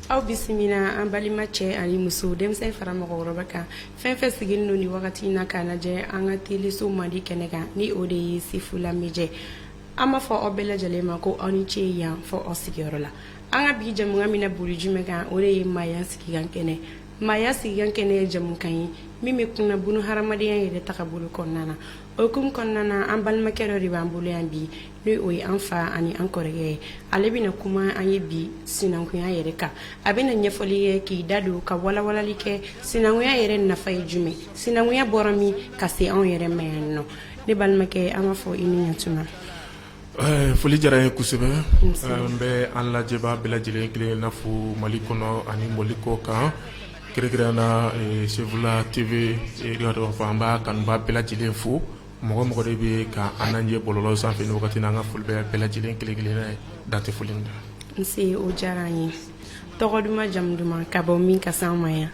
aw bisimila an balima cɛ ani muso denmisɛn fara mɔgɔkɔrɔba kan fɛn fɛn sigilen don ni wagati in na k'a lajɛ an ka teleso mandi kɛnɛ kan ni o de ye sefula media an b'a fɔ aw bɛɛ lajɛlen ma ko aw ni ce yan fɔ aw sigiyɔrɔ la an ka bi jamukan mina boli jumɛn kan o de ye maaya sigikan kɛnɛ maaya sigikan kɛnɛ ye jamukan ye min bɛ kunna bunu hadamadenya yɛrɛ tagabolo kɔnɔna na o hukumu kɔnɔna na an balimakɛ dɔ de b'an bolo yan bi ni o ye an fa ani an kɔrɔkɛ ye ale bɛna kuma an ye bi sinankunya yɛrɛ kan a bɛna ɲɛfɔli kɛ k'i da don ka walawalali kɛ sinankunya yɛrɛ nafa ye jumɛn sinankunya bɔra min ka se anw yɛrɛ ma yan nɔ ne balimakɛ an b'a fɔ i ni ɲɛtuma Foli diyara n ye kosɛbɛ n bɛ an lajɛbaa bɛɛ lajɛlen kelen kelen na fo mali kɔnɔ ani mali kɔ kan kɛrɛnkɛrɛnnenya na sefula tv an b'a kanubaa bɛɛ lajɛlen fo mɔgɔ o mɔgɔ de bɛ ka an lajɛ bɔlɔlɔ sanfɛ ni wagati in na an ka foli bɛ bɛɛ lajɛlen kelen kelen ye dan tɛ foli min na n o diyara an ye tɔgɔ duman jamu duman ka bɔ min ka se an ma yan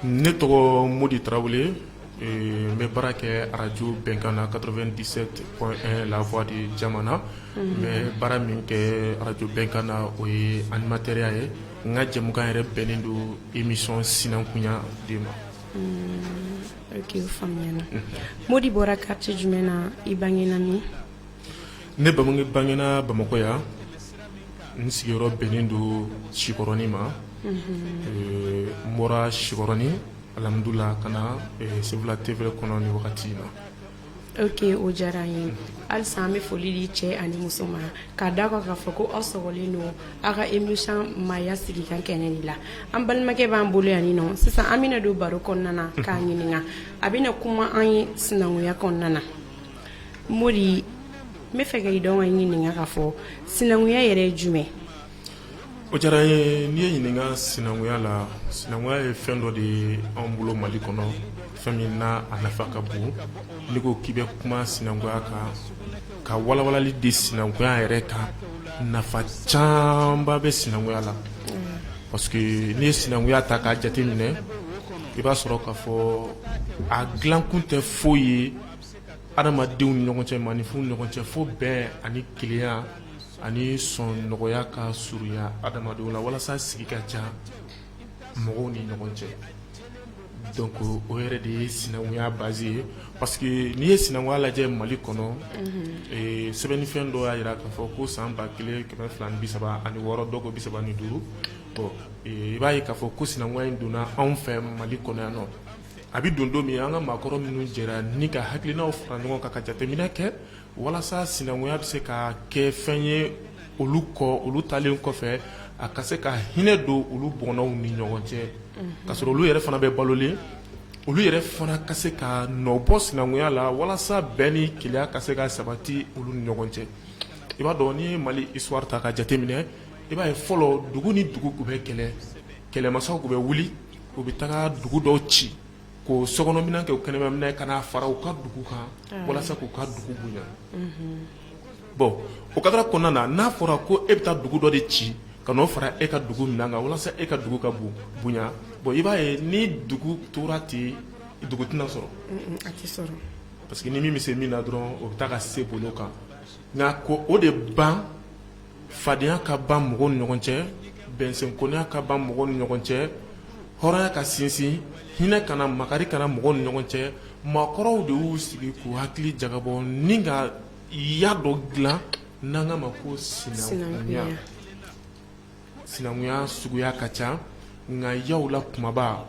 ne tɔgɔ modi tarawele n bɛ baara kɛ arajo bɛnkan na quatre-vingt-dix-sept point un la voix de jamana n bɛ baara min kɛ arajo bɛnkan na o ye animatɛriya ye n ka jɛmukan yɛrɛ bɛnnen don émission sinankunya de ma oke o faamuyana modi bɔra quartier jumɛn na i bangena min ne ba bangena bamakɔ yan n sigiyɔrɔ bɛnnen don sikɔrɔnin ma n bɔra sikɔrɔnin alhamdulillah ka na sefula tv kɔnɔ ni wagati in na oke o diyara an ye halisa an bɛ foli di cɛ ani muso ma k'a da kan k'a fɔ ko aw sɔgɔlen don aw ka émission maaya sigikan kɛnɛ de la an balimakɛ b'an bolo yan nin nɔ sisan an bɛna don baro kɔnɔna na k'a ɲininka a bɛna kuma an ye sinankunya kɔnɔna na modi n b'a fɛ ka i dɔn ka ɲininka k'a fɔ sinankunya yɛrɛ ye jumɛn o diyara n ye n'i ye n ɲininka sinankunya la sinankunya ye fɛn dɔ de ye anw bolo mali kɔnɔ fɛn min na a nafa ka bon n'i ko k'i bɛ kuma sinankunya kan ka walawalali di sinankunya yɛrɛ kan nafa camanba bɛ sinankunya la parce que n'i ye sinankunya ta k'a jateminɛ i b'a sɔrɔ k ka fɔ a dilankun tɛ foyi ye adamadenw ni ɲɔgɔn cɛ maaninfinw ni ɲɔgɔn cɛ fo bɛn ani kelenya ani sɔn nɔgɔya ka surunya adamadenw la walasa sigi ka diya mɔgɔw ni ɲɔgɔn cɛ donc o yɛrɛ de ye sinankunya base ye parce que n'i ye sinankunya lajɛ Mali kɔnɔ ee sɛbɛnnifɛn dɔ y'a jira k'a fɔ ko san ba kelen kɛmɛ fila ni bi saba ani wɔɔrɔ dɔw ko bi saba ni duuru bon i b'a ye k'a fɔ ko sinankunya in donna anw fɛ Mali kɔnɔ yan nɔ a bɛ don don min an ka maakɔrɔ minnu jɛra ni ka hakilinaw fara ɲɔgɔn kan ka jateminɛ kɛ walasa sinankunya bɛ se ka kɛ fɛn ye olu kɔ olu taalen kɔfɛ a ka se ka hinɛ don olu bɔnnaw ni ɲɔgɔn cɛ ka sɔrɔ olu yɛrɛ fana bɛ balolen olu yɛrɛ fana ka se ka nɔbɔ sinankunya la walasa bɛn ni kelenya ka se ka sabati olu ni ɲɔgɔn cɛ i b'a dɔn n'i ye mali histoire ta ka jateminɛ i b'a ye fɔlɔ dugu ni dugu tun bɛ kɛlɛ kɛlɛmasaw tun bɛ wuli u bɛ taga dugu dɔw ci k'o sokɔnɔminɛn kɛ o kɛnɛmaminɛn ka n'a fara u ka dugu kan walasa k'u ka dugu bonya bon o kadara kɔnɔna na n'a fɔra ko e bɛ taa dugu dɔ de ci ka n'o fara e ka dugu minɛn kan walasa e ka dugu ka bonya bon i b'a ye ni dugu tora ten dugu tɛna sɔrɔ parce que ni min bɛ se min na dɔrɔn o bɛ taa ka se bolo kan nka ko o de ban fadenya ka ban mɔgɔw ni ɲɔgɔn cɛ bɛnsɛnkɔniya ka ban mɔgɔw ni ɲɔgɔn cɛ hɔrɔnya ka sinsin hinɛ ka na makari ka na mɔgɔw ni ɲɔgɔn cɛ maakɔrɔw de y'u sigi k'u hakili jagabɔ ni ka ya dɔ dilan n'an k'a ma ko sinankunya sinankunya suguya ka ca nka yaw la kunbaba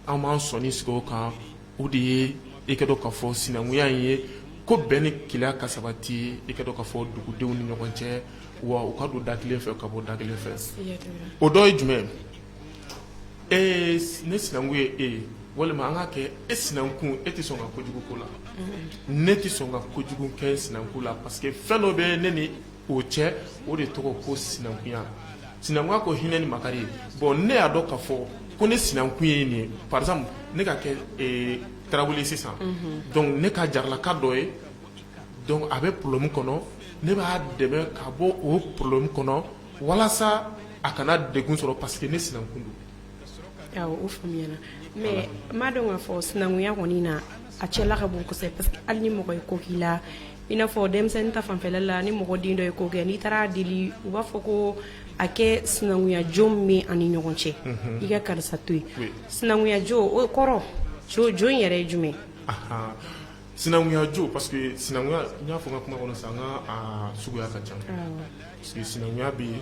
an b'an sɔnin sigi o kan o de ye i k'a dɔn k'a fɔ sinankunya in ye ko bɛn ni kelenya ka sabati i k'a dɔn k'a fɔ dugudenw ni ɲɔgɔn cɛ wa u ka don da kelen fɛ ka bɔ da kelen fɛ o dɔ ye jumɛn ye ne sinankun ye e ye walima an ka kɛ e sinankun e tɛ sɔn ka kojugu k'o la ne tɛ sɔn ka kojugu kɛ sinankun la parce que fɛn dɔ bɛ ne o cɛ o de tɔgɔ ko sinankunya sinankunya ko hinɛ ni makari ye bon ne y'a dɔn k'a fɔ ko ne sinankun ye nin ye par exemple ne ka kɛ ee tarawele ye sisan donc ne ka jaralaka dɔ ye donc a bɛ problème kɔnɔ ne b'a dɛmɛ k'a bɔ o problème kɔnɔ walasa a kana degun sɔrɔ parce que ne sinankun don o faamuyana mais n b'a dɔn k'a fɔ sinankunya kɔni na a cɛla ka bon kosɛbɛ parce que hali ni mɔgɔ ye ko k'i la i n'a fɔ denmisɛnnin ta fanfɛla la ni mɔgɔ den dɔ ye ko kɛ n'i taara deli u b'a fɔ ko a kɛ sinankunyajo min an ni ɲɔgɔn cɛ i ka karisa to yen sinankunyajo o kɔrɔ jo in yɛrɛ ye jumɛn sinankunyajo parce que sinankunya n y'a fɔ n ka kuma kɔnɔ sisan n k'a suguya ka ca parce que sinankunya bɛ yen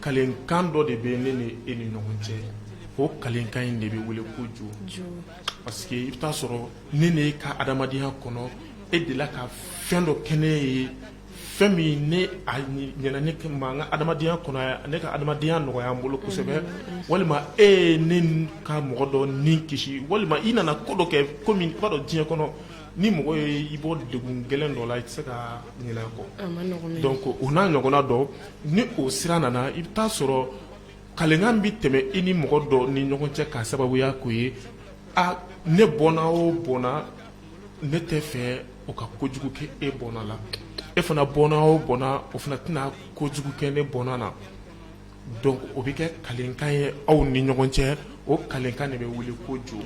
kalenkan dɔ de bɛ ne ni e ni ɲɔgɔn cɛ o kalenkan in de bɛ wele ko jo parce que i bɛ t'a sɔrɔ ne ni e ka adamadenya kɔnɔ e delila ka fɛn dɔ kɛ ne ye fɛn min ne a ɲɛna ne ma n ka adamadenya kɔnɔ ne ka adamadenya nɔgɔya n bolo kosɛbɛ mm, mm, mm. walima e ye ne ka mɔgɔ dɔ ni kisi walima i nana ko dɔ kɛ komi i b'a dɔn diɲɛ kɔnɔ ni mɔgɔ ye i bɔ degun gɛlɛn dɔ la i tɛ se ka ɲinɛ kɔ donc o n'a ɲɔgɔnna dɔ ni o sira nana i bɛ taa sɔrɔ kalenkan bɛ tɛmɛ i ni mɔgɔ dɔ ni ɲɔgɔn cɛ k'a sababuya k'o ye a ne bɔnna o bɔnna ne tɛ fɛ o ka kojugu kɛ e bɔnna la e fana bɔnna o bɔnna o fana tɛna kojugu kɛ ne bɔnna na donc o bɛ kɛ kalenkan ye aw ni ɲɔgɔn cɛ o kalenkan de bɛ wele ko jo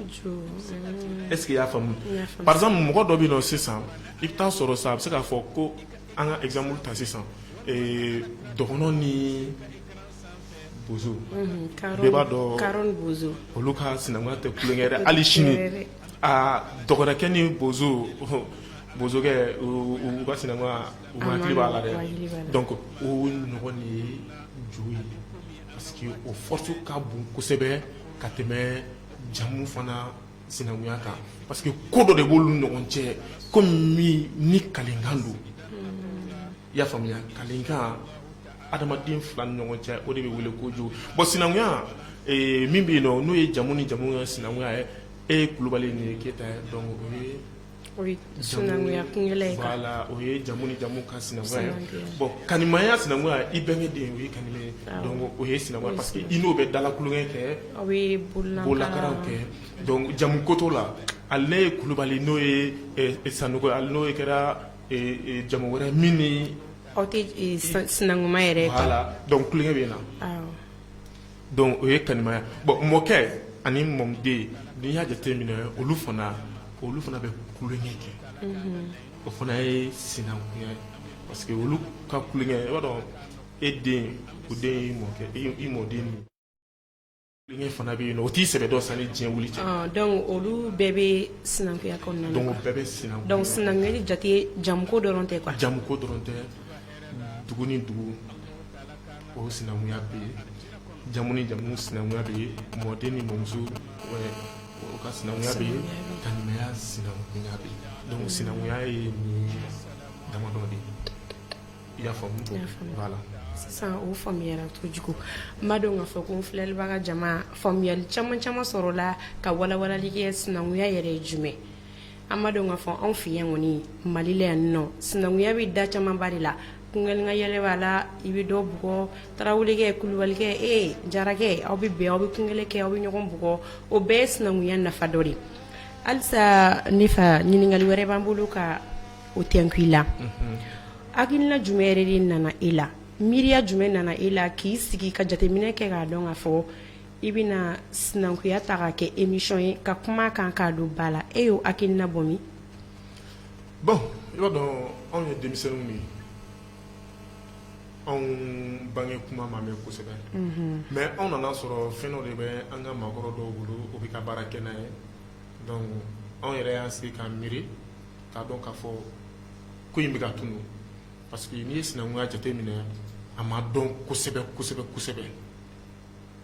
est ce que i y'a faamu par exemple mɔgɔ dɔ bɛ yen nɔ sisan i bɛ taa sɔrɔ sisan a bɛ se k'a fɔ ko an ka exemple ta sisan ee dɔgɔnɔ ni bozo bɛɛ b'a dɔn olu ka sinankunya tɛ tulonkɛ dɛ hali sini aa dɔgɔnɔkɛ ni bozo bozokɛ u ka sinankunya u hakili b'a la dɛ donc o ɲɔgɔn de ye parce que o force ka bon kosɛbɛ ka tɛmɛ jamu fana sinankunya kan parce que ko dɔ de b'olu ɲɔgɔn cɛ komi ni kalenkan don i y'a faamuya kalenkan adamaden fila ni ɲɔgɔn cɛ o de bɛ wele ko jo bon sinankunya min bɛ yen nɔ n'o ye jamu ni jamu ye sinankunya ye e ye kulubali nin ye keyita ye donc o ye sinankunya o ye jamu ni jamu ka sinankunya ye bon kanimaya sinankunya i bɛnkɛ den o ye kanimɛ ye donc o ye sinankunya parce que i n'o bɛ dala tulonkɛ kɛ aw bɛ bololakaraw kɛ jamuko t'o la hali n'e ye kulubali n'o ye sanɔgɔ hali n'o ye kɛra jamu wɛrɛ min ni aw tɛ sinankunma yɛrɛ la donc tulonkɛ bɛ na Donc o ye kanimaya bon mɔkɛ ani mɔden n'i y'a jateminɛ olu fana olu fana bɛ tulonkɛ kɛ o fana ye sinankunya ye parce que olu ka tulonkɛ i b'a dɔn e den o den i mɔkɛ i mɔden ni tulonkɛ fana bɛ yen nɔ o t'i sɛbɛ dɔn sanni diɲɛ wili cɛ olu bɛɛ bɛ sinankunya bɛɛ bɛ sinan sinanku jate jamuko dɔrɔn tɛ jamuko dɔrɔn tɛ dugu ni dugu o sinankunya bɛ yen jamu ni jamu sinankunya bɛ yen mɔden ni mɔmuso o ka sinankunya bɛ yen kanimaya sinankunya bɛ yen donc sinankunya ye nin damadɔ de ye i y'a faamu voilà sisan o faamuyara kojugu n b'a dɔn k'a fɔ ko n filɛlibaga jama faamuyali caman caman sɔrɔla ka walawalali kɛ sinankunya yɛrɛ ye jumɛn an b'a dɔn k'a fɔ anw fɛ yan kɔni mali la yan nɔ sinankunya bɛ da camanba de la tulonkɛ yɛlɛ b'a la i bɛ dɔ bugɔ tarawelekɛ kulubalikɛ e jarakɛ aw bɛ bɛn aw bɛ tulonkɛ kɛ aw bɛ ɲɔgɔn bugɔ o bɛɛ ye sinankunya nafa dɔ de halisa ne fa ɲininkali wɛrɛ b'an bolo ka o tɛnku i la hakilina jumɛn yɛrɛ de nana e la miiriya jumɛn nana e la k'i sigi ka jateminɛ kɛ k'a dɔn k'a fɔ I bɛna sinankunya ta k'a kɛ émission ye ka kuma kan k'a don ba la e y'o hakilina bɔ min bon i b'a dɔn anw ye denmisɛnninw ye anw bange kuma ma mɛn kosɛbɛ mais anw nana sɔrɔ fɛn dɔ de bɛ an ka maakɔrɔ dɔw bolo o bɛ ka baara kɛ n'a ye donc anw yɛrɛ y'an sigi k'an miiri k'a dɔn k'a fɔ ko in bɛ ka tunun parce que n'i ye sinankunya jate minɛ a ma dɔn kosɛbɛ kosɛbɛ kosɛbɛ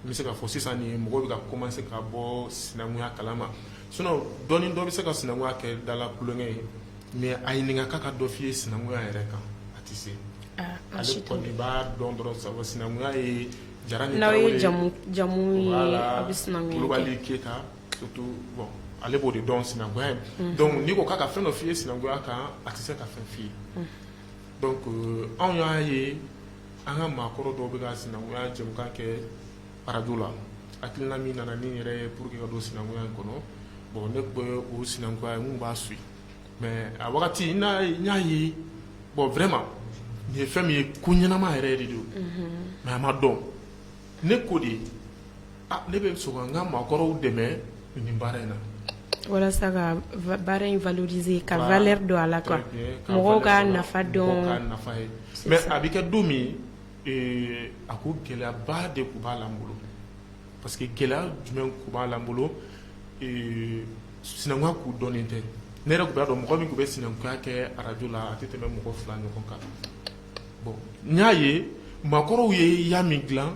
n bɛ se k'a fɔ sisan nin mɔgɔ bɛ ka commencer ka bɔ sinankunya kalama sinon dɔɔni dɔ bɛ se ka sinankunya kɛ da la tulonkɛ ye mais a ɲininka k'a ka dɔ f'i ye sinankunya yɛrɛ kan a tɛ se ale kɔni b'a dɔn dɔrɔn sa sinankunya ye jara ni tarawele ye jamu jamu la kulubali keyita bon ale b'o de dɔn sinankunya ye donc n'i ko k'a ka fɛn dɔ f'i ye sinankunya kan a tɛ se ka fɛn f'i ye donc anw y'a ye An ka maakɔrɔ dɔw bɛ ka sinankunya jɛmukan kɛ arajo la, hakilina min nana ni yɛrɛ ye pour que ka don sinankunya in kɔnɔ, bon ne tun bɛ o sinankunya jɛmu n b'a suit mais a wagati n y'a ye bon vraiment nin ye fɛn min ye ko ɲɛnama yɛrɛ de don mais a ma dɔn. ne ko de ne bɛ sɔn ka n ka maakɔrɔw dɛmɛ nin baara in na walasa ka baara in valoriser ka valeur don a la quoi mɔgɔw k'a nafa dɔn nafa ye mais a bɛ kɛ don min a ko gɛlɛyaba de tun b'a la n bolo parce que gɛlɛya jumɛn tun b'a la n bolo sinankunya tun dɔnnen tɛ ne yɛrɛ tun b'a dɔn mɔgɔ min tun bɛ sinankunya kɛ arajo la a tɛ tɛmɛ mɔgɔ fila ɲɔgɔn kan bon n y'a ye maakɔrɔw ye ya min dilan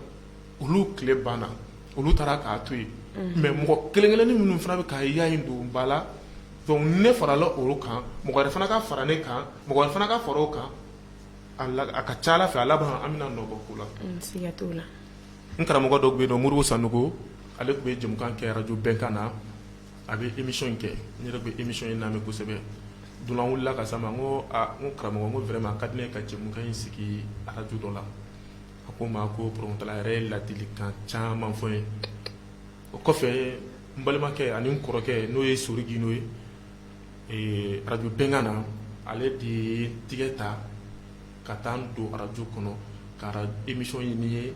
olu tile banna olu taara k'a to yen mais mɔgɔ kelen kelenni minnu fana bɛ ka ya in don ba la donc ne farala olu kan mɔgɔ wɛrɛ fana ka fara ne kan mɔgɔ wɛrɛ fana ka fara o kan a ka ca Ala fɛ a laban an bɛna nɔ bɔ ko la siga t'o la n karamɔgɔ dɔ tun bɛ yen nɔ Modibo Sanogo ale tun bɛ jɛmukan kɛ arajo bɛnkan na a bɛ émission in kɛ n yɛrɛ bɛ émission in lamɛn kosɛbɛ don dɔ la n wulila ka s'a ma n ko karamɔgɔ n ko vraiment a ka di n ye ka jɛmukan in sigi arajo dɔ la a ko n ma ko problème t'a la a yɛrɛ ye ladilikan caman fɔ n ye o kɔfɛ n balimakɛ ani n kɔrɔkɛ n'o ye Sori Gindo ye arajo bɛnkan na ale de ye n tigɛ ta ka taa n don arajo kɔnɔ ka émission ɲini n ye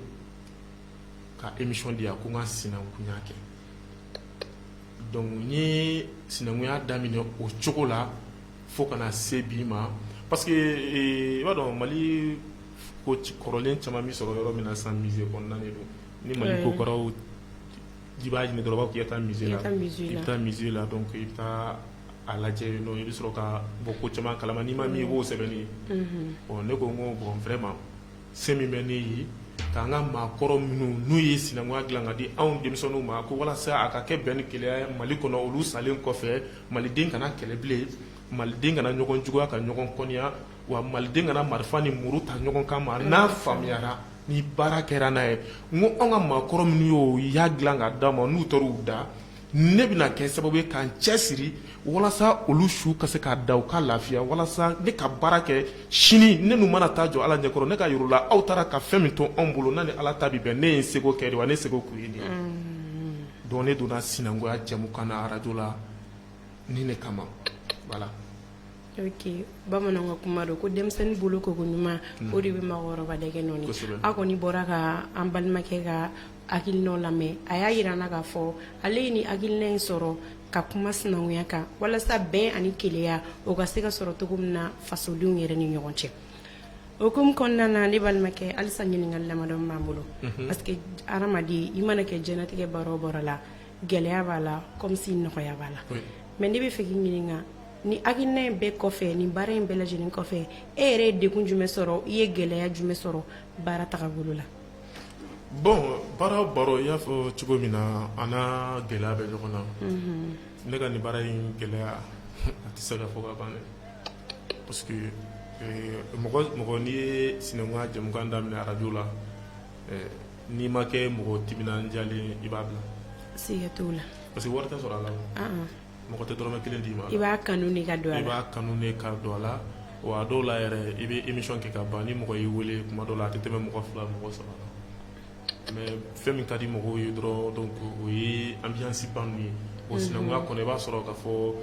ka émission di yan ko n ka sinankunya kɛ donc n ye sinankunya daminɛ o cogo la fo ka na se bi ma parce que eh, i b'a dɔn mali ko kɔrɔlen caman bɛ sɔrɔ yɔrɔ min na sisan musée kɔnɔna de don ni mali ko kɔrɔw i b'a ɲini dɔrɔn u b'a fɔ k'i ka taa musée la i bɛ taa musée la donc i bɛ taa a lajɛ yen nɔ i bɛ sɔrɔ ka bɔ ko caman kalama n'i ma min ye i b'o sɛbɛnni ye ne ko n ko bon vraiment se min bɛ ne ye k'an ka maakɔrɔ minnu n'u ye sinankunya dilan ka di anw denmisɛnninw ma ko walasa a ka kɛ bɛn ni kelenya ye Mali kɔnɔ olu salen kɔfɛ maliden kana kɛlɛ bilen maliden kana ɲɔgɔn juguya ka ɲɔgɔn kɔniya wa maliden kana marifa ni muru ta ɲɔgɔn kan ma n'a faamuyara ni baara kɛra n'a ye n ko anw ka maakɔrɔ minnu y'o y'a dilan ka d'an ma n'u taara u da ne bɛna kɛ sababu ye k'an cɛ siri walasa olu su ka se ka da u ka lafiya walasa ne ka baara kɛ sini ne n'u mana taa jɔ ala ɲɛkɔrɔ ne k'a yir'u la aw taara ka fɛn min to anw bolo n'a ni ala ta bɛ bɛn ne ye n seko kɛ de wa ne seko kun ye de donc ne donna sinankunya jɛmukan na arajo la nin de kama voilà ok bamananw ka kuma don ko denmisɛnnin bolo ko ko ɲuman o de bɛ mɔgɔkɔrɔba dɛgɛ nɔɔni aw kɔni bɔra ka an balimakɛ ka hakilinaw lamɛn a y'a jira an na k'a fɔ ale ye nin hakilina in sɔrɔ ka kuma sinankunya kan walasa bɛn ani kelenya o ka se ka sɔrɔ cogo min na fasodenw yɛrɛ ni ɲɔgɔn cɛ o hukumu kɔnɔna na ne balimakɛ halisa ɲininkali damadɔ b'an bolo parce que hadamaden i mana kɛ diɲɛlatigɛ baara o baara la gɛlɛya b'a la comme si nɔgɔya b'a la mais ne b'a fɛ k'i ɲininka nin hakilina in bɛɛ kɔfɛ nin baara in bɛɛ lajɛlen kɔfɛ e yɛrɛ ye degun jumɛn sɔrɔ i ye gɛlɛya jumɛn sɔrɔ baara tagabolo la bon baara o baara i y'a fɔ cogo min na a n'a gɛlɛya bɛ ɲɔgɔn na ne ka nin baara in gɛlɛya a tɛ se ka fɔ ka ban parce que mɔgɔ mɔgɔ n'i ye sinankunya jɛmukan daminɛ arajo la n'i ma kɛ mɔgɔ timinandiyalen i b'a bila siga t'o la parce que wari tɛ sɔrɔ a la mɔgɔ tɛ dɔrɔmɛ kelen d'i ma i b'a kanu de ka don a la i b'a kanu de ka don a la wa a dɔw la yɛrɛ i bɛ émission kɛ ka ban ni mɔgɔ y'i wele tuma dɔw la a tɛ tɛmɛ mɔgɔ fila mɔgɔ saba kan mais fɛn min ka di mɔgɔw ye dɔrɔn donc o ye ambiance ba ninnu ye bon sinankunya kɔnɔ i b'a sɔrɔ k'a fɔ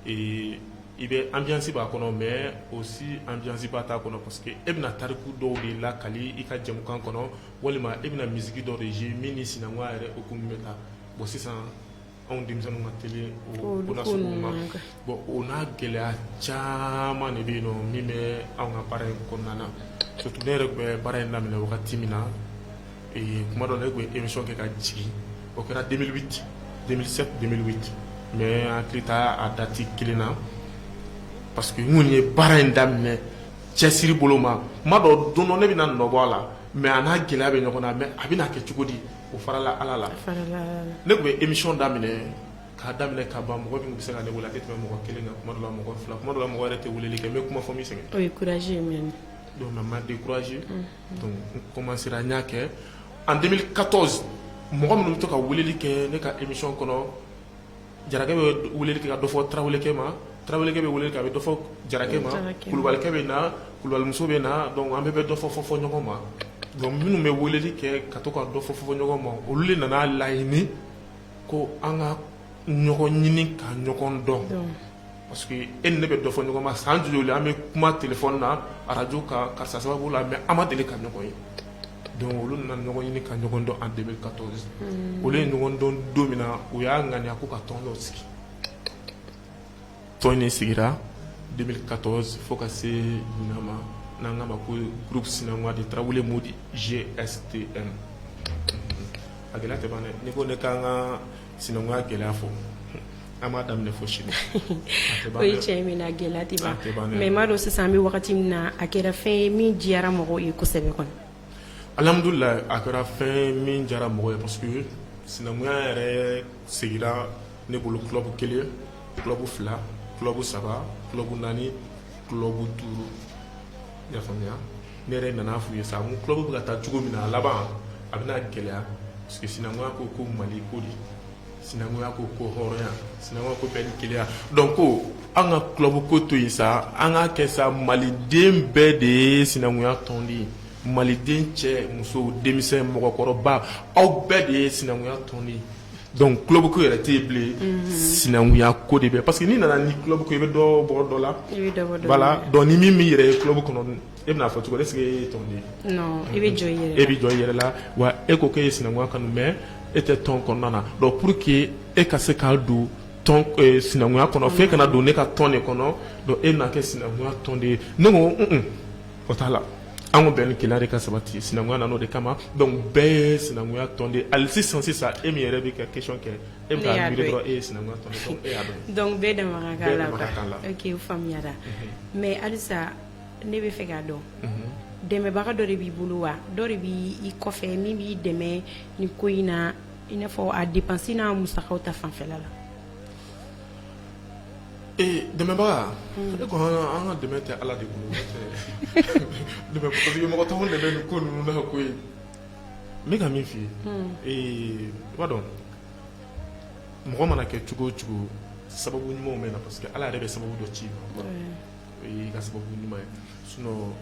ee i bɛ ambiance b'a kɔnɔ mais aussi ambiance ba t'a kɔnɔ parce que e bɛna tariku dɔw de lakali i ka jɛmukan kɔnɔ walima e bɛna musique dɔ de jouer min ni sinankunya yɛrɛ hukumu bɛ taa bon sisan anw denmisɛnninw ka teli o ko na sugu ma bon o n'a gɛlɛya caman de bɛ yen nɔ min bɛ anw ka baara in kɔnɔna na surtout ne yɛrɛ tun bɛ baara in daminɛ wagati min na ee kuma dɔ la ne tun bɛ émission kɛ ka jigin o kɛra 2008 2007 2008 mais n hakili t'a a dati kelen na parce que n kɔni ye baara in daminɛ cɛsiri bolo ma n b'a dɔn don dɔ ne bɛna nɔ bɔ a la mais a n'a gɛlɛya bɛ ɲɔgɔn na mais a bɛna kɛ cogo di o farala ala la ne tun bɛ émission daminɛ k'a daminɛ ka ban mɔgɔ min bɛ se ka ne wele a tɛ tɛmɛ mɔgɔ kelen kan kuma dɔ la mɔgɔ fila kuma dɔ la mɔgɔ yɛrɛ tɛ weleli kɛ n bɛ kuma fo n bɛ sɛgɛn courage n ma découragé n commencera n y'a kɛ en 2014 mɔgɔ minnu bɛ to ka weleli kɛ ne ka émission kɔnɔ jarakɛ bɛ weleli kɛ ka dɔ fɔ tarawelekɛ ma tarawelekɛ bɛ weleli kɛ a bɛ dɔ fɔ jarakɛ ma kulubalikɛ bɛ na kulubalimuso bɛ na donc an bɛɛ bɛ dɔ fɔ fɔ fɔ ɲɔgɔn ma donc minnu bɛ weleli kɛ ka to ka dɔ fɔ fɔ ɲɔgɔn ma olu de nana laɲini ko an ka ɲɔgɔn ɲini ka ɲɔgɔn dɔn Parce que e ni ne bɛ dɔ fɔ ɲɔgɔn ma san joli an bɛ kuma téléphone na arajo kan karisa sababu la mais an ma deli ka ɲɔgɔn ye donc olu nana ɲɔgɔn ɲini ka ɲɔgɔn dɔn en deux mille quatorze olu ye ɲɔgɔn dɔn don min na u y'a ŋaniya ko ka tɔn dɔ sigi tɔn in sigira deux mille quatorze fo ka se ɲinan ma n'an k'a ma ko groupe sinankunya de Tarawele Modi GSTM a gɛlɛya tɛ ban dɛ n'i ko ne k'an ka sinankunya gɛlɛya fɔ an b'a daminɛ fo sini o ye tiɲɛ min na gɛlɛya tɛ ban mais i m'a dɔn sisan an bɛ wagati min na a kɛra fɛn ye min diyara mɔgɔw ye kosɛbɛ kɔni alhamdulilayi a kɛra fɛn ye min diyara mɔgɔw ye parce que sinankunya yɛrɛ sigira ne bolo club kelen club fila club saba club naani club duuru i y'a faamuya ne yɛrɛ nana f'u ye sa n ko club bɛ ka taa cogo min na a laban a bɛna gɛlɛya parce que sinankunya ko ko Mali ko de sinankunya ko ko hɔrɔnya sinankunya ko bɛn ni kelenya donc ko an ka club ko to yen sa an k'a kɛ sa maliden bɛɛ de ye sinankunya tɔnden ye maliden cɛ muso denmisɛn mɔgɔkɔrɔba aw bɛɛ de ye sinankunya tɔnden ye donc club ko yɛrɛ tɛ yen bilen sinankunya ko de bɛ parce que n'i nana ni club ko i bɛ dɔ bɔ dɔ la voilà donc ni min b'i yɛrɛ ye club kɔnɔ e bɛn'a fɔ cogo est-ce que e ye tɔnden ye e bɛ jɔ e bɛ jɔ i yɛrɛ la wa e ko k'e ye sinankunya kanu mais e tɛ tɔn kɔnɔna na donc pour que e ka se ka don tɔn sinankunya kɔnɔ fo e ka na don ne ka tɔn de kɔnɔ donc e na kɛ sinankunya tɔnden ye ne ko o t'a la an ko bɛn ni kelenya de ka sabati sinankunya nana o de kama donc bɛɛ ye sinankunya tɔnden ye hali sisan sisan e min yɛrɛ bɛ ka question kɛ e bɛ k'a miiri dɔrɔn e ye sinankunya tɔnden ye donc bɛɛ da la o faamuyara mais halisa ne b'a fɛ k'a dɔn dɛmɛbaga dɔ de b'i bolo wa dɔ de b'i kɔfɛ min b'i dɛmɛ ni ko in na i n'a fɔ a dépense n'a musakaw ta fanfɛla la Ee dɛmɛbaga ne ko an ka dɛmɛ tɛ ala de b'an dɛmɛ parce que mɔgɔ t'an dɛmɛ nin ko ninnu na ko ye n bɛ ka min f'i ye i b'a dɔn mɔgɔ mana kɛ cogo o cogo sababu ɲumanw bɛ na parce que ala yɛrɛ bɛ sababu dɔ ci i ma o y'i ka sababu ɲuman ye sinon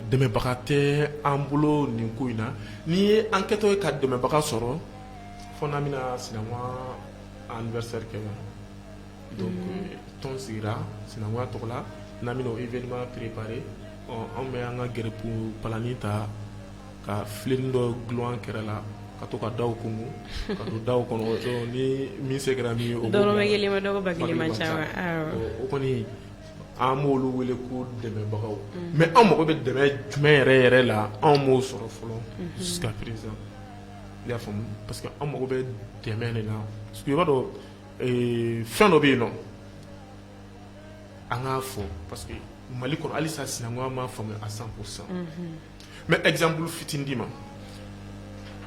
dɛmɛbaga tɛ an bolo nin ko in na n'i ye an kɛtɔ ye ka dɛmɛbaga sɔrɔ fo n'an bɛna sina anniversaire kɛ quoi donc tɔn sigira sinankuya tɔgɔ la n'an bɛna o événement préparer ɔ anw bɛ an ka garibu palanin ta ka filen dɔ dulon an kɛrɛ la ka to ka daw kunun ka don daw kɔnɔ donc ni min se kɛra min ye o b'o dɔrɔmɛ bila kelen ma dɔgɔ ba kelen man ca wa awɔ o kɔni an b'olu wele ko dɛmɛbagaw mais an mago bɛ dɛmɛ jumɛn yɛrɛ yɛrɛ la anw m'o sɔrɔ fɔlɔ jusqu'à présent i y'a faamu parce que an mago bɛ dɛmɛ de la parce que i b'a dɔn fɛn dɔ bɛ yen nɔ an k'a fɔ parce que mali kɔnɔ halisa sinankuya ma faamu à cent pourcent mais exemple fitinin d'i ma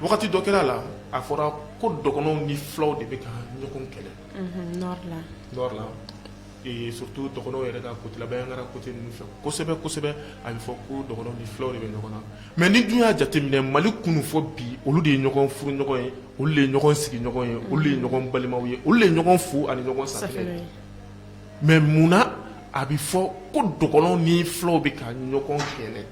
wagati dɔ kɛra la a fɔra ko dɔgɔnɔw ni fulaw de bɛ ka ɲɔgɔn kɛlɛ nord la Surtout dɔgɔnɔ yɛrɛ ka côté la Bandiagara côté ninnu fɛ kosɛbɛ kosɛbɛ a bɛ fɔ ko dɔgɔnɔ ni fulaw de bɛ ɲɔgɔn na mais n'i dun y'a jateminɛ mali kunun fo bi olu de ye ɲɔgɔn furuɲɔgɔn ye olu de ye ɲɔgɔn sigiɲɔgɔn ye olu de ye ɲɔgɔn balimaw ye olu de ye ɲɔgɔn fu ani ɲɔgɔn safinɛ mais mun na a bɛ fɔ ko dɔgɔnɔ ni fulaw bɛ ka ɲɔgɔn kɛlɛ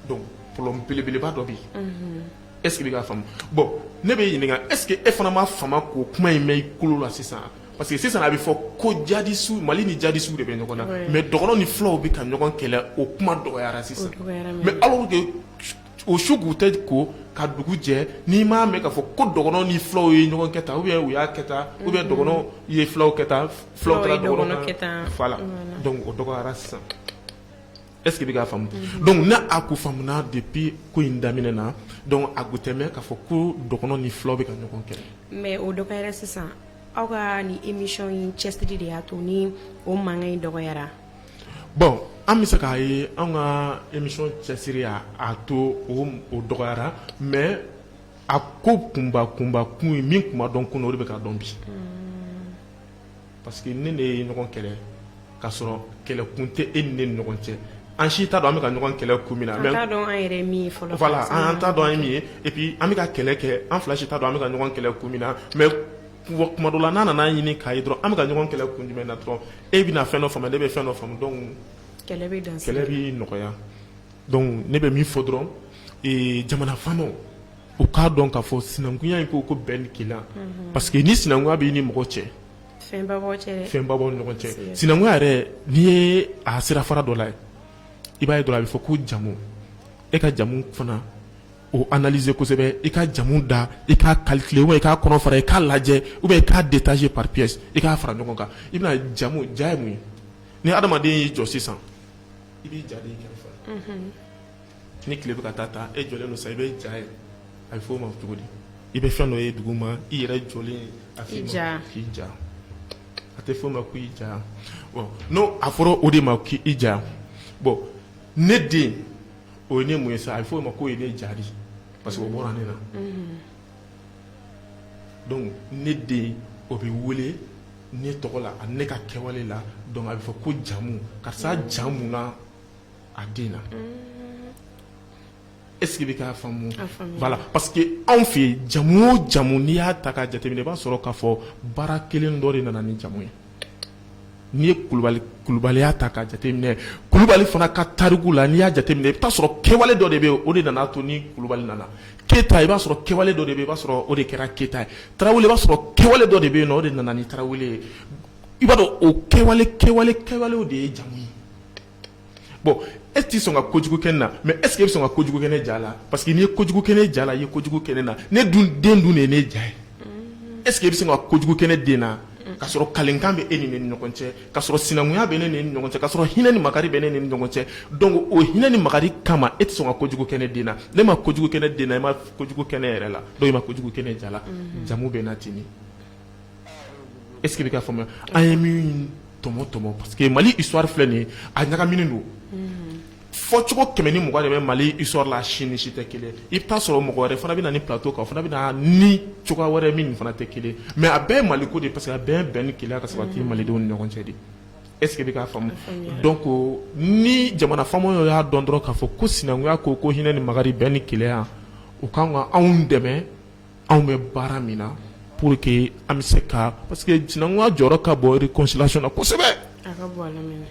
donc problème belebeleba dɔ bɛ yen Est-ce que i bɛ k'a faamu bon ne bɛ ɲininka est-ce que e fana ma fama k'o kuma in mɛn i kulo la sisan parce que sisan a bɛ fɔ ko jadisu mali ni jadisu de bɛ ɲɔgɔn na mais dɔgɔnɔ ni fulaw bɛ ka ɲɔgɔn kɛlɛ o kuma dɔgɔyara sisan mais alors que o su kun tɛ ko ka dugu jɛ n'i m'a mɛn k'a fɔ ko dɔgɔnɔ ni fulaw ye ɲɔgɔn kɛ tan ou bien u y'a kɛ tan ou bien dɔgɔnɔ ye fulaw kɛ tan fula voilà o dɔgɔyara sisan Est-ce que i bɛ k'a faamu, unhun, donc ni a kun faamuna depuis ko in daminɛ na donc a kun tɛ mɛn k'a fɔ ko dɔgɔnɔ ni filaw bɛ ka ɲɔgɔn kɛlɛ mais o dɔgɔyara sisan aw ka nin émission in cɛsiri de y'a to ni o mankan in dɔgɔyara bon an bɛ se k'a ye anw ka émission cɛsiri y'a a to o o dɔgɔyara mais a ko kunba kunba kun ye min kun ma dɔn kunun o de bɛ ka dɔn bi, unhun parce que ne n'e ye ɲɔgɔn kɛlɛ k'a sɔrɔ kɛlɛkun tɛ e ni ne ni ɲɔgɔn cɛ an si t'a dɔn an bɛ ka ɲɔgɔn kɛlɛ kun min na an t'a dɔn an yɛrɛ min ye fɔlɔ voilà an t'a dɔn an ye min ye et puis an bɛ ka kɛlɛ kɛ an fila si t'a dɔn an bɛ ka ɲɔgɔn kɛlɛ kun min na mais kuma dɔ la n'a nana an ɲini k'a ye dɔrɔn an bɛ ka ɲɔgɔn kɛlɛ kun jumɛn na dɔrɔn e bɛna fɛn dɔ faamu ne bɛ fɛn dɔ faamu donc kɛlɛ bɛ dan sira kɛlɛ bɛ nɔgɔya donc ne bɛ min fɔ dɔrɔn ee jamana faamaw u k'a dɔn k'a fɔ sinankunya in ko ko bɛn ni kelenya parce que ni sinankunya b'i ni mɔgɔ cɛ fɛnba b'aw ni ɲɔgɔn cɛ sinankunya yɛrɛ n'i ye a sira fara dɔ la i b'a ye dɔrɔn a bɛ fɔ ko jamu e ka jamu fana o analyser kosɛbɛ i ka jamu da i k'a calculer ou bien i k'a kɔnɔ fara i k'a lajɛ ou bien i k'a détacher par pièce i k'a fara ɲɔgɔn kan i bɛna jamu ja ye mun ye ni adamaden y'i jɔ sisan i b'i ja ye i kɛrɛfɛ ni tile bɛ ka taa ta e jɔlen don sa i bɛ ja ye a bɛ f'o ma cogo di i bɛ fɛn dɔ ye duguma i yɛrɛ jɔlen a f'i ma ja. k'i ja a tɛ f'o ma ko i ja bon n'o a fɔra o de ma k' i ja bon ne den o ye ne mun ye sa a bɛ f'o ma k'o ye ne ja de ye parce que o bɔra ne na donc ne den o bɛ wele ne tɔgɔ la ani ne ka kɛwale la donc a bɛ fɔ ko jamu karisa jamu na a den na est-ce que i bɛ k'a faamu voilà parce que anw fɛ yen jamu o jamu n'i y'a ta k'a jateminɛ i b'a sɔrɔ k'a fɔ baara kelen dɔ de nana ni jamu ye n'i ye kulubali kulubaliya ta k'a jateminɛ kulubali fana ka tariku la n'i y'a jateminɛ i bɛ taa sɔrɔ kɛwale dɔ de bɛ yen o de nana to ni kulubali nana keyita i b'a sɔrɔ kɛwale dɔ de bɛ yen i b'a sɔrɔ o de kɛra keyita ye tarawele i b'a sɔrɔ kɛwale dɔ de bɛ yen nɔ o de nana ni tarawele ye i b'a dɔn o kɛwale kɛwale kɛwale de ye jamu ye bon e t'i sɔn ka kojugu kɛ ne na mais est-ce que e bɛ sɔn ka kojugu kɛ ne ja la parce que n'i ye kojugu kɛ ne ja la i ye kojugu kɛ ne na ne dun den dun de ye ne ja ye est-ce que e bɛ sɔn ka kojugu kɛ ne den na ka sɔrɔ kalikan bɛ e ni ne ni ɲɔgɔn cɛ ka sɔrɔ sinankunya bɛ ne ni ɲɔgɔn cɛ ka sɔrɔ hinɛ ni makari bɛ ne ni ɲɔgɔn cɛ donc o hinɛ ni makari kama e tɛ sɔn ka kojugu kɛ ne den na n'e ma kojugu kɛ ne den na e ma kojugu kɛ ne yɛrɛ la donc e ma kojugu kɛ ne ja la jamu bɛ na ten Est-ce que i bɛ k'a faamuya an ye min tɔmɔ tɔmɔ parce que mali histoire filɛ nin ye a ɲagaminen don fɔcogo kɛmɛ ni mugan de bɛ mali histoire la si ni si tɛ kelen i bɛ taa sɔrɔ mɔgɔ wɛrɛ fana bɛ na nin plateau kan o fana bɛ na ni cogoya wɛrɛ min fana tɛ kelen mais a bɛɛ ye mali ko de parce que a bɛɛ ye bɛn ni kelenya ka sabati malidenw ni ɲɔgɔn cɛ de est-ce que i bɛ k'a faamuya donc ni jamana faamaw y'a dɔn dɔrɔn k'a fɔ ko sinankunya ko ko hinɛ ni makari bɛn ni kelenya u ka kan ka anw dɛmɛ anw bɛ baara min na pour que an bɛ se ka parce que sinankunya jɔyɔrɔ ka bon réconciliation na kosɛbɛ, a ka bon ale minɛ,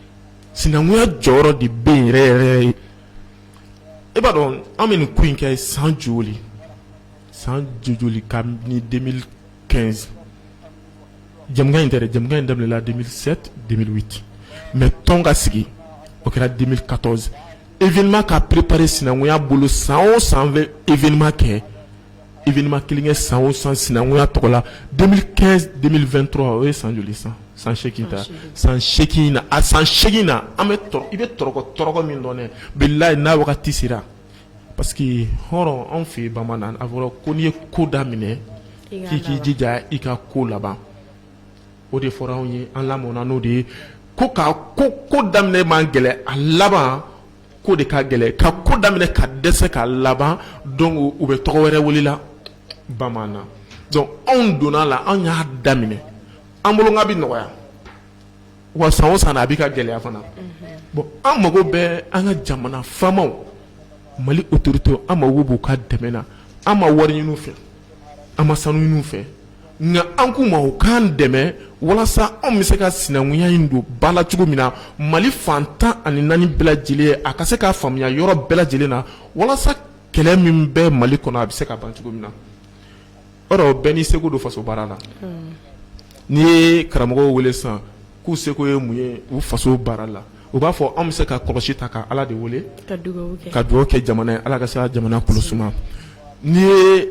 sinankunya jɔyɔrɔ de bɛ yen yɛrɛ yɛrɛ ye, e b'a dɔn an bɛ nin ko in kɛ san joli san joli kabini 2015 jamukan in tɛ dɛ jamukan in daminɛna 2007 2008 mais tɔn ka sigi o kɛra 2014 événement ka préparer sinankunya bolo san o san an bɛ événement kɛ événement kelen kɛ san o san sinankunya tɔgɔ la 2015 2023 o ye san joli san san ta san na a san segin na an bɛ i bɛ tɔrɔkɔtɔrɔkɔ min dɔn dɛ bilayi n'a wagati sera parce que hɔrɔn anw fɛ bamanan a fɔra ko n'i ye ko daminɛ k'i k'i jija i ka ko laban o de fɔra anw ye an lamɔna n'o de ye ko' ko ko daminɛ man gɛlɛn a laban ko de ka gɛlɛn ka ko daminɛ ka dɛsɛ ka laban donc u bɛ tɔgɔ wɛrɛ wele la bamanan donc anw donna la anw y'a daminɛ an bolo nka bɛ nɔgɔya wa san o san a bɛ ka gɛlɛya fana bon an mago bɛ an ka jamana faamaw mali autorité an mako b'u ka dɛmɛ na an ma wari ɲini u fɛ an ma sanu ɲini u fɛ nka an k'u ma u k'an dɛmɛ walasa anw bɛ se ka sinankunya in don ba la cogo min na mali fan tan ani naani bɛɛ lajɛlen a ka se k'a faamuya yɔrɔ bɛɛ lajɛlen na walasa kɛlɛ min bɛ mali kɔnɔ a bɛ se ka ban cogo min na or bɛɛ n'i seko don faso baara la n'i ye karamɔgɔw wele sisan k'u seko ye mun ye u faso baara la u b'a fɔ an bɛ se ka kɔlɔsi ta ka Ala de wele ka dugawu kɛ ka dugawu kɛ jamana ye Ala ka se ka jamana kolo suma n'i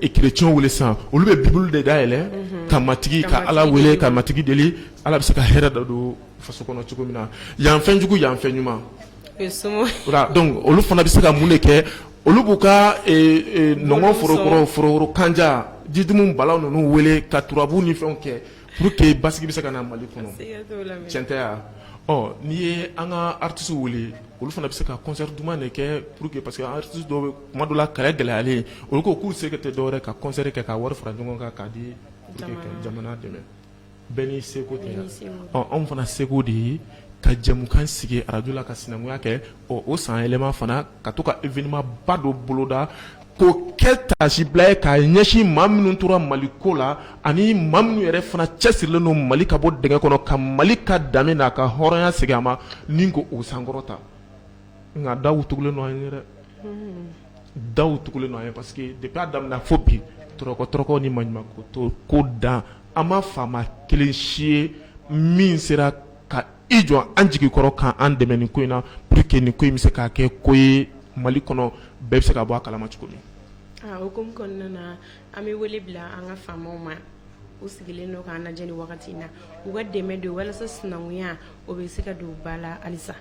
ye chrétiens wele sisan olu bɛ bible de dayɛlɛ unhun ka matigi ka Ala wele ka matigi deli Ala bɛ se ka hɛrɛ dɔ don faso kɔnɔ cogo min na yan fɛn jugu yan fɛn ɲuman o ye somaw voilà donc olu fana bɛ se ka mun de kɛ olu b'u ka nɔnkɔn forokoro forokoro kanja jitumu bala ninnu wele ka turabu ni fɛnw kɛ Pour que basigi bɛ se ka na mali kɔnɔ tiɲɛ tɛ ya n'i ye an ka artistes wele olu fana bɛ se ka concert duman de kɛ pour que parce que artistes dɔw bɛ kuma dɔ la kɛlɛ gɛlɛyalen olu ko k'u se tɛ dɔwɛrɛ ka concert kɛ ka wari fara ɲɔgɔn kan k'a di jamana dɛmɛ bɛɛ n'i seko tɛ anw fana seko de ye ka jɛmukan sigi arajo la ka sinankunya kɛ o san yɛlɛma fana ka to ka événement ba dɔ boloda K'o kɛ taasibila ye k'a ɲɛsin maa minnu tora mali ko la ani maa minnu yɛrɛ fana cɛsirilen don mali ka bɔ dingɛ kɔnɔ ka mali ka danbe n'a ka hɔrɔnya segin a ma ani k'o sankɔrɔta nka daw tugulen don an ye dɛ daw tugulen don an ye parce que depuis a daminɛ fo bi tɔɔrɔko ni maɲumako to ko dan an ma faama kelen si ye min sera ka i jɔ an jigi kɔrɔ k'an dɛmɛ nin ko in na pour que nin ko in bɛ se ka kɛ ko ye mali kɔnɔ bɛɛ bɛ se ka bɔ a kalama cogo min o ko kɔnɔna na an bɛ wele bila an ka faamaw ma u sigilen don k'an lajɛ nin wagati in na u ka dɛmɛ don walasa sinankunya o bɛ se ka don ba la halisa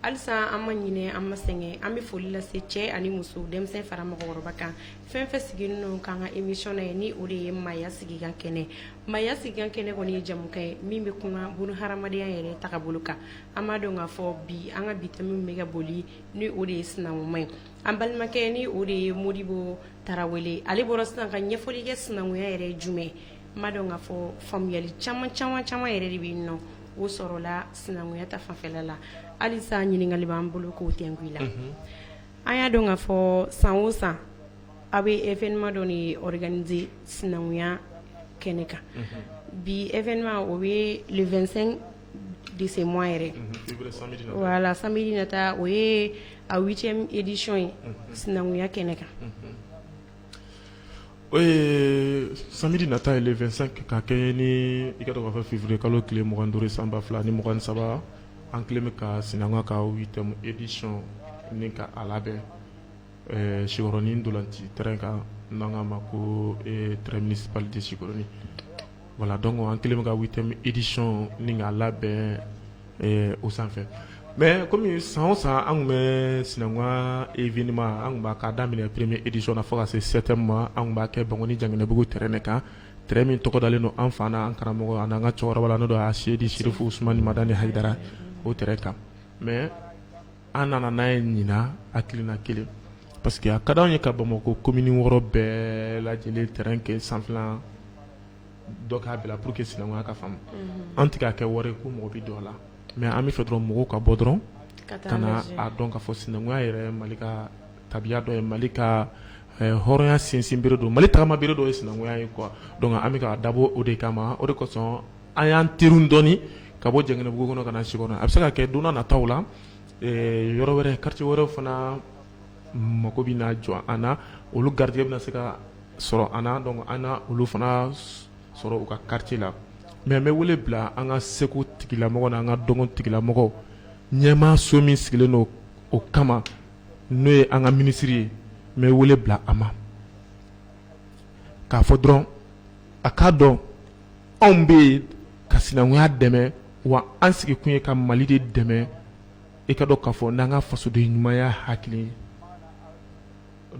halisa an ma ɲinɛ an ma sɛgɛn an bɛ foli lase cɛ ani muso denmisɛn fara mɔgɔkɔrɔba kan fɛn fɛn sigilen don k'an ka émission lajɛ ni o de ye maaya sigikan kɛnɛ Maaya sigikan kɛnɛ kɔni ye jɛmukan ye min bɛ kuma bunadamadenya yɛrɛ tagabolo kan an b'a dɔn k'a fɔ bi an ka bi thème bɛ ka boli ni o de ye sinankunya ye an balimakɛ ni o de ye modibo tarawele ale bɔra sisan ka ɲɛfɔli kɛ sinankunya yɛrɛ ye jumɛn n b'a dɔn k'a fɔ faamuyali caman caman caman yɛrɛ de bɛ yen n'o sɔrɔla sinankunya ta fanfɛla la halisa ɲininkali b'an bolo k'o tɛnku i la an y'a dɔn k'a fɔ san san Aw bɛ evma dɔ ni k2 sinankunya kɛnɛ kan bi e o ye 2 dese yɛrɛ wala san na taa o ye a cɛ ediyon ye sinankunya kɛnɛ kan sanji nata ye 2 ka kɛ ni i fɛ fitiriri kalo tile mugan duuru sanba fila ni mugan saba an kɛlen bɛ ka sinanku ka ediy ni ka a labɛn Ɛɛ siɔrɔnin ntolaci t kan n'an k'a ma ko t minisipli de siɔrɔnin wala dɔn an kɛlen bɛ ka wuli tɛ edison ni k'a labɛn o sanfɛ mɛ kɔmi san san an tun bɛ sinankunka efinima an tun k'a daminɛ minɛ pereme ediso na fo ka se sɛte ma an b'a kɛ bang jabugu tɛ ne kan t min tɔgɔ dalen don an fana an karamɔgɔ ani an ka cɛkɔrɔba la n' don a sedi sirifu suma ni mad ni hara o tɛ kan mɛ an nana n'a ye ɲina hakilina kelen parce que a ka d'anw ye ka bamakɔ komini wɔɔrɔ bɛɛ lajɛlen terrain kɛ sanfɛlan dɔ k'a bila pour que sinankunya ka faamu mhm. an tɛ k'a kɛ wari ko mɔgɔ bɛ don a la mais an bɛ fɛ dɔrɔn mɔgɔw ka bɔ dɔrɔn ka na a dɔn k'a fɔ sinankunya yɛrɛ mali ka tabiya dɔ ye mali ka eh, hɔrɔnya sinsin bere don mali tagama bere dɔ ye sinankunya ye quoi donc an bɛ ka dabɔ o de kama o de kosɔn an y'an terun dɔɔni ka bɔ Janginɛbugu kɔnɔ ka na Sikɔrɔ a bɛ se ka kɛ don n'a nataw la yɔrɔ wɛrɛ quartier wɛrɛw fana mako bɛna jɔ an na olu garijɛgɛ bɛna se ka sɔrɔ an na donc an na olu fana sɔrɔ u ka quartier la mais n bɛ wele bila an ka seko tigilamɔgɔ n'an ka dɔnko tigilamɔgɔ ɲɛmaaso min sigilen don o kama n'o ye an ka minisiri ye n bɛ wele bila a ma k'a fɔ dɔrɔn a k'a dɔn anw bɛ yen ka sinankunya dɛmɛ wa an sigikun ye ka mali de dɛmɛ i ka dɔn k'a fɔ n'an ka fasoden ɲumanya hakili ye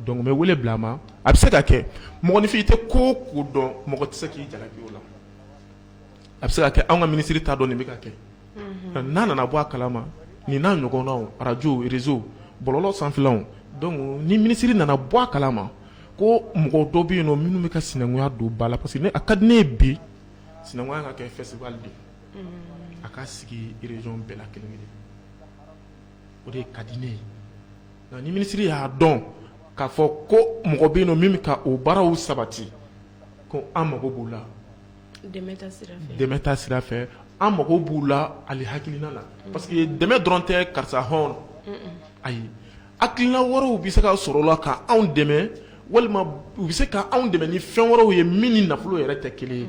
donc n bɛ wele bila a ma a bɛ se ka kɛ mɔgɔninfin i tɛ ko o ko dɔn mɔgɔ tɛ se k'i jalaki o la a bɛ se ka kɛ anw ka minisiri t'a dɔn nin bɛ ka kɛ n'a nana bɔ a kala ma nin n'a ɲɔgɔnnaw arajo réseau bɔlɔlɔ sanfɛlaw donc ni minisiri nana bɔ a kala ma ko mɔgɔ dɔ bɛ yen nɔ minnu bɛ ka sinankunya don ba la parce que a ka di ne ye bi sinankunya ka kɛ festival de a ka sigi région bɛɛ la kelen kelen o de ka di ne ye nka ni minisiri y'a dɔn k'a fɔ ko mɔgɔ bɛ yen nɔ min bɛ ka o baaraw sabati ko an mago b'o la dɛmɛ ta sira fɛ an mago b'u la ali hakilina la parce que dɛmɛ dɔrɔn tɛ karisa hɔn ayi hakilina wɛrɛw bɛ se ka sɔrɔ o la ka anw dɛmɛ walima u bɛ se ka anw dɛmɛ ni fɛn wɛrɛw ye min ni nafolo yɛrɛ tɛ kelen ye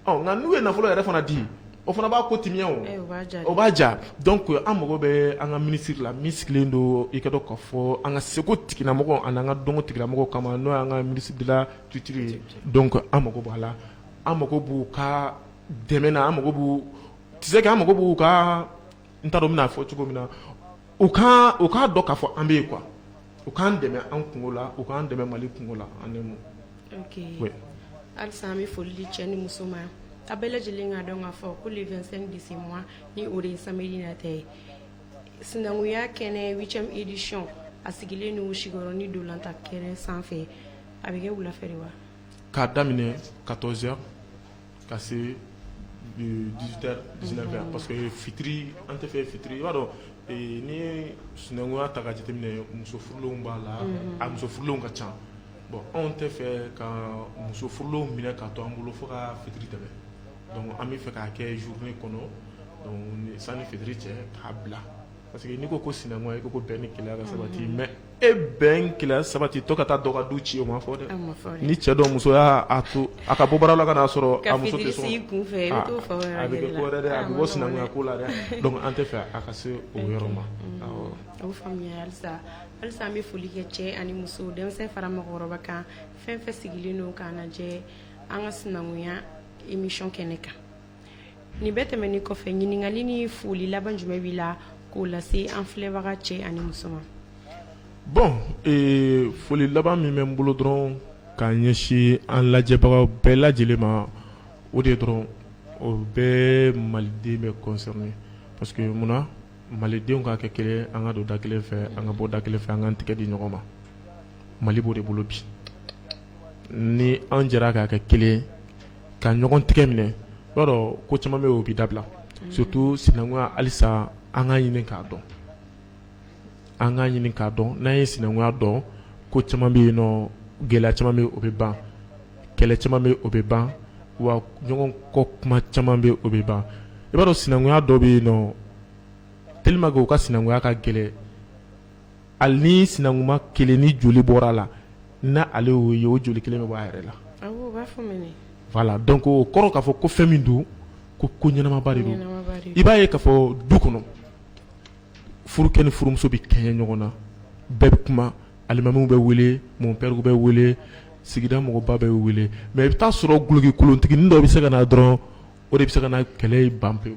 nka n'u ye nafolo yɛrɛ fana di o fana b'a ko timiya o b'a ja donc an mago bɛ an ka minisiri la min sigilen don i k'a dɔn k'a fɔ an ka seko tigilamɔgɔ ani an ka dɔnko tigilamɔgɔ kama n'o y'an ka ministre de la Culture ye donc an mako b'a la an mako b'u ka dɛmɛ na an mako b'u tu sais que an mako b'u ka n t'a dɔn n bɛn'a fɔ cogo min na u ka u k'a dɔn k'a fɔ an bɛ yen quoi u k'an dɛmɛ an kungo la u k'an dɛmɛ mali kungo la an dɛmɛ halisa an bɛ foli di cɛ ni muso ma a bɛɛ lajɛlen k'a dɔn k'a fɔ ko le vingt-cinq de ce mois ni o de ye samedi nata ye sinankunya kɛnɛ huitième édition a sigilen don Sikɔrɔni ntolatan kɛnɛ sanfɛ a bɛ kɛ wulafɛ de wa k'a daminɛ quatorze heures ka se dix-huit heures dix-neuf heures parce que fitiri an tɛ fɛ fitiri i b'a dɔn n'i ye sinankunya ta ka jateminɛ muso furulenw b'a la a muso furulenw ka ca bon anw tɛ fɛ ka muso furulenw minɛ ka to an bolo fo ka fitiri tɛmɛ donc an bɛ fɛ k'a kɛ journée kɔnɔ donc sanni fitiri cɛ k'a bila parce que n'i ko ko sinankunya i ko bɛn ni kelenya ka sabati mais e bɛn kelenya sabati to ka taa dɔ ka du ci o ma fɔ dɛ ni cɛ dɔ muso y'a to a ka bɔ baara la ka n'a sɔrɔ a muso bɛ bɔ sinankunya ko la dɛ donc an tɛ fɛ a ka se o yɔrɔ ma halisa an bɛ foli kɛ cɛ ani muso denmisɛn fara mɔgɔkɔrɔba kan fɛn fɛn sigilen don k'an lajɛ an ka sinankunya émission kɛnɛ kan Nin bɛɛ tɛmɛnen kɔfɛ ɲininkali ni foli laban jumɛn b'i la k'o lase an filɛbaga cɛ ani muso ma bon foli laban min bɛ n bolo dɔrɔn k'a ɲɛsin an lajɛbaga bɛɛ lajɛlen ma o de dɔrɔn o bɛ maliden bɛɛ concerner parce que mun na malidenw ka kɛ kelen an ka don da kelen fɛ an ka bɔ da kelen fɛ an ka tɛgɛ di ɲɔgɔn ma mali b'o de bolo bi ni an jɛra ka kɛ kelen ka ɲɔgɔn tɛgɛ minɛ i b'a dɔn ko caman bɛ yen o bɛ dabila surtout sinankunya halisa an k'a ɲini k'a dɔn an k'a ɲini k'a dɔn n'an ye sinankunya dɔn ko caman bɛ yen nɔ gɛlɛya caman bɛ yen o bɛ ban kɛlɛ caman bɛ yen o bɛ ban wa ɲɔgɔn kɔ kuma caman bɛ yen o bɛ ban i b'a dɔn sinankunya dɔ bɛ yen nɔ tellement que u ka sinankunya ka gɛlɛn ali ni sinankunma kelen ni joli bɔra a la n'ale y'o ye o joli kelen bɛ bɔ a yɛrɛ la voilà donc o kɔrɔ k'a fɔ ko fɛn min don ko ɲɛnamaba de don i b'a ye k'a fɔ du kɔnɔ furukɛ ni furumuso bɛ kɛɲɛ ɲɔgɔn na bɛɛ bɛ kuma alimamiw bɛ wele mɔnpɛriw bɛ wele sigida mɔgɔba bɛ wele mais i bɛ t'a sɔrɔ gulokikolontiginin dɔ bɛ se ka na dɔrɔn o de bɛ se ka na kɛlɛ ban pewu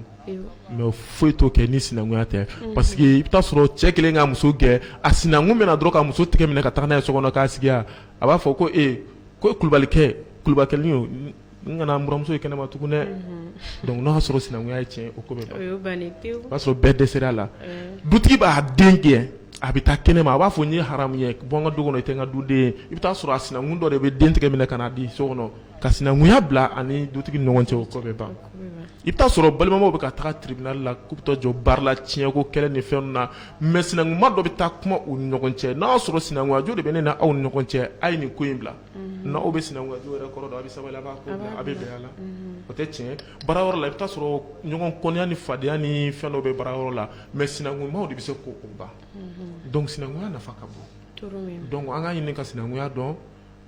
mais foyi t'o kɛ ni sinankunya tɛ mhm. parce que i bɛ t'a sɔrɔ cɛ kelen ka muso gɛn a sinankun bɛ na dɔrɔn ka muso tigɛ minɛ ka taa n'a ye so kɔnɔ k'a sigi a b'a fɔ ko e ko kulubalikɛ kulubakɛ n kana n buranmuso ye kɛnɛma tugun dɛ mhm. donc n'a y'a sɔrɔ sinankunya ye tiɲɛ o ko bɛ ban o b'a sɔrɔ bɛɛ dɛsɛra a la dutigi b'a den gɛn a bɛ taa kɛnɛma a b'a fɔ n y'i haramuya bɔ n ka du kɔnɔ i tɛ n ka duden ye i bɛ t'a sɔrɔ a sinankun dɔ de bɛ den tigɛ minɛ ka n'a di so kɔnɔ ka sinankunya bila a ni dutigi ni ɲɔgɔn cɛ o ko bɛ ban i bɛ t'a sɔrɔ balimamaw bɛ ka taa tribunal la k'u bɛ taa jɔ barre la tiɲɛko kɛlɛ ni fɛn ninnu na mais sinankunma dɔ bɛ taa kuma u ni ɲɔgɔn cɛ n'a y'a sɔrɔ sinankunyajo de bɛ ne ni aw ni ɲɔgɔn cɛ a ye nin ko in bila n'aw bɛ sinankunyajo yɛrɛ kɔrɔ dɔn a bɛ sabali a b'a ko bila a bɛ bɛn a la o tɛ tiɲɛ baara yɔrɔ la i bɛ t'a sɔrɔ ɲɔgɔn kɔniya ni fadenya ni fɛn dɔ bɛ baara yɔrɔ la mais sinankunmaw de bɛ se k'o ban donc sinankunya nafa ka bon donc an k'a ɲini ka sinankunya dɔn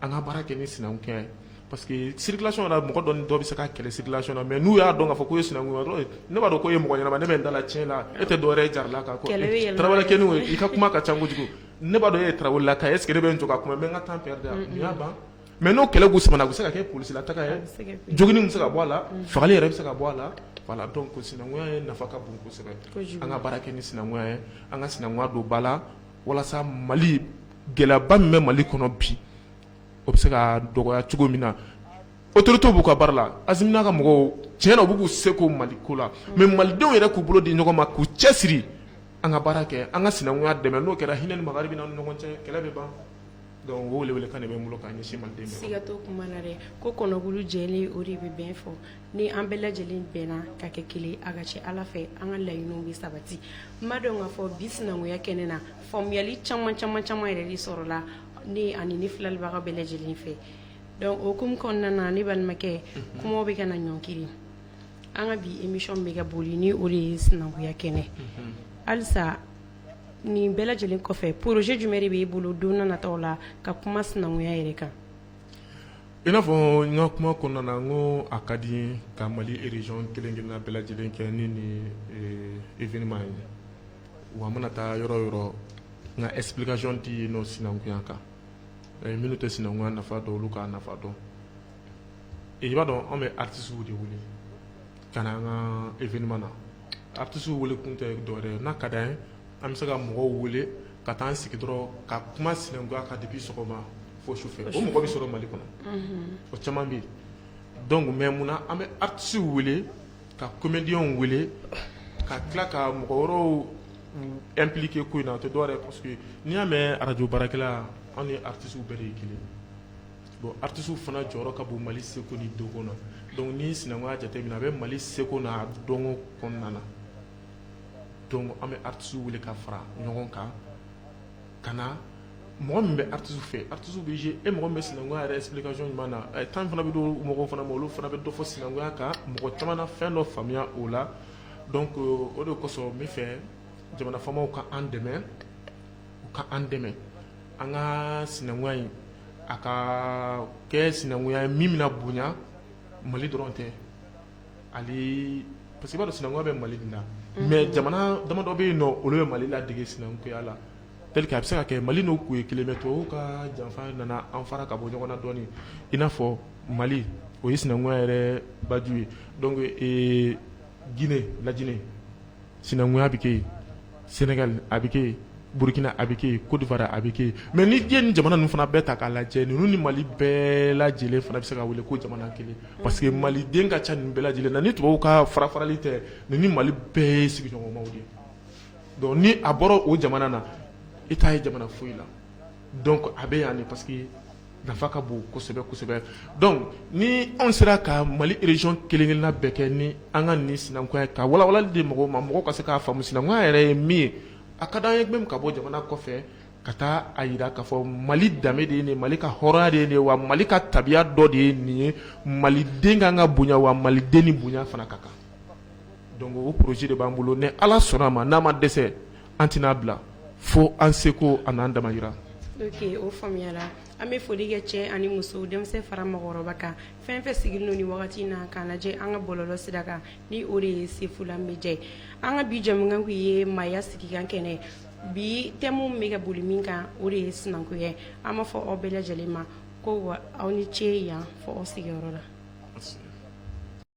an ka baara kɛ ni sinankunya ye parce que circulation na mɔgɔ dɔ ni dɔ bɛ se ka kɛlɛ circulation na mais n'u y'a dɔn k'a fɔ k'u ye sinankun ye dɔrɔn ne b'a dɔn k'e ye mɔgɔ ɲɛnama ne bɛ n da la tiɲɛ la e tɛ dɔwɛrɛ ye jaralaka kɔ Kɛlɛ bɛ yɛlɛma. tarawelekɛnin o i ka kuma ka ca kojugu ne b'a dɔn e ye tarawelelaka ye est ce que ne bɛ n jɔ ka kuma n bɛ n ka temps perdre a nin y'a ban mais n'o kɛlɛ ku samana o bɛ se ka kɛ polisi la taga ye bɛ se ka kɛ. jogini bɛ se ka bɔ a la fagali yɛrɛ bɛ se ka bɔ a la voilà donc sinankunya ye nafa ka bon kosɛbɛ Kojugu. an ka baara kɛ ni sinankunya ye an ka sinankunya don ba la walasa mali gɛlɛyaba min bɛ mali kɔnɔ bi o bɛ se ka dɔgɔya cogo min na autorités b'u ka baara la Asimi n'a ka mɔgɔw tiɲɛ na u bɛ k'u seko mali ko la mais malidenw yɛrɛ k'u bolo di ɲɔgɔn ma k'u cɛsiri an ka baara kɛ an ka sinankunya dɛmɛ n'o kɛra hinɛ ni makari bɛ na an ni ɲɔgɔn cɛ kɛlɛ bɛ ban donc o welekan de bɛ n bolo k'a ɲɛsin maliden bɛɛ ma siga t'o kuma na dɛ ko kɔnɔkulu jɛlen o de bɛ bii fɔ ni an bɛɛ lajɛlen bɛnna ka kɛ kelen a ka ca ala fɛ an ka laɲiniw bɛ sabati n b'a dɔn k'a fɔ bi sinankunya kɛnɛ na faamuyali caman caman caman yɛrɛ de sɔrɔla ne ani ne filɛlibaga bɛɛ lajɛlen fɛ donc o hukumu kɔnɔna na ne balimakɛ mhm. kumaw bɛ ka na ɲɔnkiri an ka bi émission bɛ ka boli ni o de ye sinankunya kɛnɛ mhm. halisa nin bɛɛ lajɛlen kɔfɛ projet jumɛn de b'e bolo don nataw la ka kuma sinankunya yɛrɛ kan I n'a fɔ n ka kuma kɔnɔna na n ko a ka di ka Mali région kelen kelenna bɛɛ lajɛlen kɛ ni nin événement ye wa n mana taa yɔrɔ o yɔrɔ n ka explication di yen nɔ sinankunya kan minnu tɛ sinankunya nafa dɔn olu k'a nafa dɔn i b'a dɔn anw bɛ artistes de wele ka na an ka événement na artistes wele kun tɛ dɔwɛrɛ ye n'a ka d'an ye an bɛ se ka mɔgɔw wele ka taa an sigi dɔrɔn ka kuma sinankunya kan depuis sɔgɔma fo sufɛ o mɔgɔ bɛ sɔrɔ mali kɔnɔ o caman bɛ yen donc mais mun na an bɛ artistes wele ka comédiens wele ka tila ka mɔgɔ wɛrɛw impliquer ko in na o tɛ dɔwɛrɛ ye parce que n'i y'a mɛn arajo baarakɛla anw ni artistes bɛɛ de ye kelen bon artistes fana jɔyɔrɔ ka bon mali seko ni dɔnko na donc ni sinankunya jateminɛ a bɛ mali seko n'a dɔnko kɔnɔna na donc an bɛ artistes wele ka fara ɲɔgɔn kan ka na mɔgɔ min bɛ artistes fɛ artistes bɛ jouer eh, mɔgɔ min bɛ sinankunya yɛrɛ explication ɲuman na temps fana bɛ d'o mɔgɔw fana ma olu fana bɛ dɔ fɔ sinankunya kan mɔgɔ caman na fɛn dɔ faamuya o la donc o de kosɔn n b'a fɛ jamana faamaw ka an dɛmɛ u ka an dɛmɛ an ka sinankunya in a ka kɛ sinankunya ye min bɛna bonya mali dɔrɔn tɛ Hali parce que i b'a dɔn sinankunya bɛ Mali de la mais jamana damadɔ bɛ yen nɔ olu bɛ Mali ladege sinankunya la tel que a bɛ se ka kɛ Mali n'u tun ye kelen mais tubabuw ka janfa nana an fara ka bɔ ɲɔgɔn na dɔɔnin i n'a fɔ Mali o ye sinankunya yɛrɛ baju ye donc Guinée, la Guinée sinankunya bɛ kɛ yen sénégal a bɛ kɛ yen burukina a bɛ kɛ yen côte d'ivoire a bɛ kɛ yen mais ni diɲɛ ni jamana ninnu fana bɛɛ ta k'a lajɛ ninnu ni mali bɛɛ lajɛlen fana bɛ se ka wele ko jamana kelen parce que maliden ka ca nin bɛɛ lajɛlen na ni tubabuw ka farafarali tɛ ninnu ni mali bɛɛ ye sigiɲɔgɔnmaw de ye donc ni a bɔra o jamana na i t'a ye jamana foyi la donc a bɛ yan de parce que nafa ka bon kosɛbɛ kosɛbɛ donc ni anw sera ka mali région kelenkelenna bɛɛ kɛ ni an ka nin sinankunya ka walawalali di mɔgɔw ma mɔgɔw ka se k'a faamu sinankunya yɛrɛ ye min ye a ka d'an ye même ka bɔ jamana kɔfɛ ka taa a yira k'a fɔ mali danbe de ye nin ye mali ka hɔrɔnya de ye nin ye wa mali ka tabiya dɔ de ye nin ye maliden ka kan ka bonya wa maliden ni bonya fana ka kan donc o projet de b'an bolo ni ala sɔnna a ma n'a ma dɛsɛ an tɛna bila fo an seko ani an damayira ok o faamuyala an bɛ foli kɛ cɛ ani muso denmisɛn fara mɔgɔkɔrɔba kan fɛn fɛn sigilen don nin wagati in na k'an lajɛ an ka bɔlɔlɔ sira kan ni o de ye sefula media ye an ka bi jɛmukan kun ye maaya sigikan kɛnɛ bi thème bɛ ka boli min kan o de ye sinankunya ye an b'a fɔ aw bɛɛ lajɛlen ma ko wa aw ni ce yan fo aw sigiyɔrɔ la